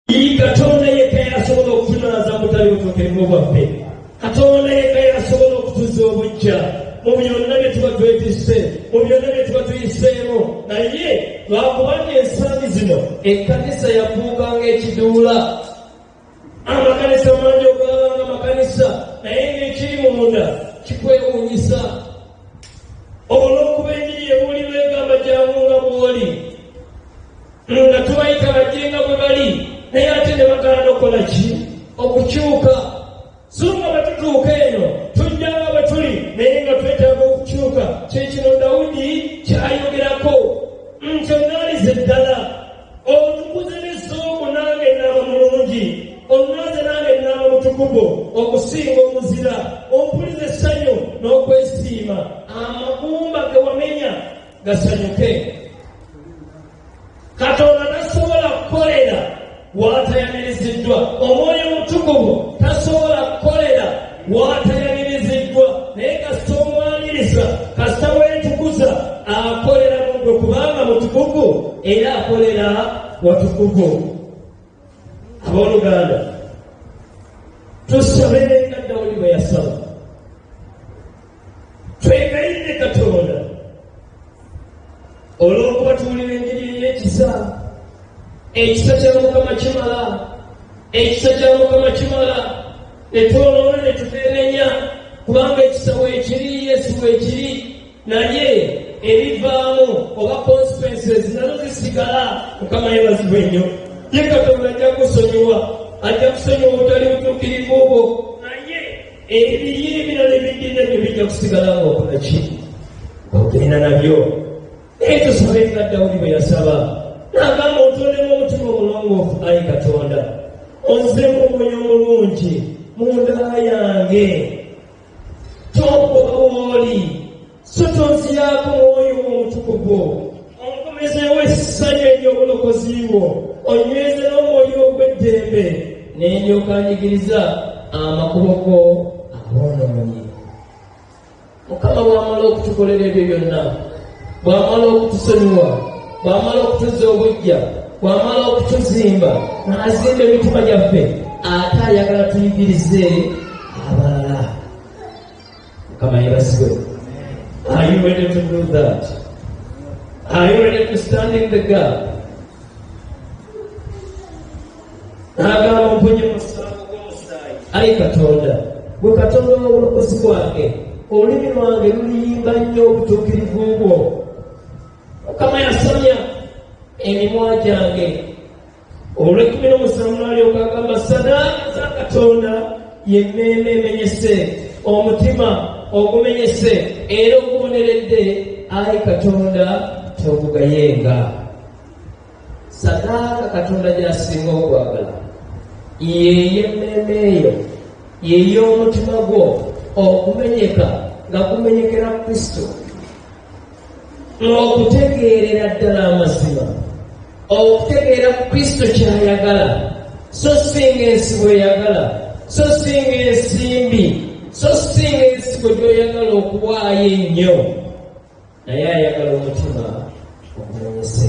Iyi Katonda yekka y'asobola okutunaaza mu butali butuukirivu bwaffe. Katonda yekka y'asobola okutuza obujja mu byonna bye tuba twetisse, mu byonna bye tuba tuyiseemu. Naye lwakubanga ensangi zino ekkanisa yafuuka ng'ekiduula, amakanisa mangi okulaba nga makanisa, naye ng'ekiri munda kikwewuunyisa. olw'okuba enjiri yebuulirwa egamba jangu nga bwoli nga tubayita bajje nga bwe bali naye ate ne bagaana okukola ki okukyuka so nga batutuuka eno tujja nga bwe tuli naye nga twetaaga okukyuka kyekino dawudi kyayogerako nti onaalize ddala omutukuze n'essuuku nange nnaaba mulungi onnaaze nange nnaaba mutukuvu okusinga omuzira ompuliza essanyu n'okwesiima amagumba ge wamenya gasanyuke katonda tasobola kukolera waatayamiriziddwa omwoyo omutukuvu tasobola waatayaniriziddwa naye kasita omwaniriza kasita weetukuza akolera mugwe kubanga mutukuvu era akolera watukuvu abooluganda tusabe nga dawudi bwe yasaba twegayirire katonda olw'okuba tuwulira enjiri ey'ekisa ekisa kya mukama kimala ekisa kya mukama kimala ne twoloola ne tuteenenya kubanga ekisa weekiri yesu weekiri naye ebivaamu oba consequences nazo zisigala mukama yebazibwe nnyo ye katonda ajja kusonyiwa ajja kusonyiwa obutali butuukirivu obwo Ebiyi ebirala ebiddira byo bijja kusigala nga okola ki? Ogenda nabyo. Naye tusabe nga Dawudi bwe yasaba n'agamba otondemu omutima omulongoofu ayi Katonda onzemu omwoyo omulungi mu nda yange tompoka wooli So tonziyaako Mwoyo wo Omutukuvu, onkomezeewo essanyu ery'obulokozi bwo, onnyweze n'omwoyo ogw'eddembe, ne ndyoka njigiriza amakubo go aboonoonyi. Mukama bw'amala okutukolera ebyo byonna, bw'amala okutusonyiwa, bw'amala okutuzza obujja, bw'amala okutuzimba n'azimba emitima gyaffe, ate ayagala tuyigirize Mukama yebazibwe. Are you ready to do that? Are you ready to stand in the gap? N'agamba mpunye musango gw'omusaayi. Ayi Katonda, gwe Katonda w'obulokozi bwange, olulimi lwange luliyimba nnyo obutuukirivu bwo. Mukama yasomya emimwa gyange olw'ekkumi n'omusanvu n'alyoka agamba sadaaka za katonda y'emmeeme emenyese omutima ogumenyese era oguboneredde ayi katonda togugayenga sadaaka katonda gy'asinga okwagala yey'emmeeme eyo yey'omutima gwo okumenyeka nga kumenyekera kristo okutegeerera ddala amazima okutegeera ku kristo kyayagala so singa ensi bweyagala so singa ensimbi so singa ensigo gyoyagala okuwaayo ennyo naye ayagala omutima okumanyise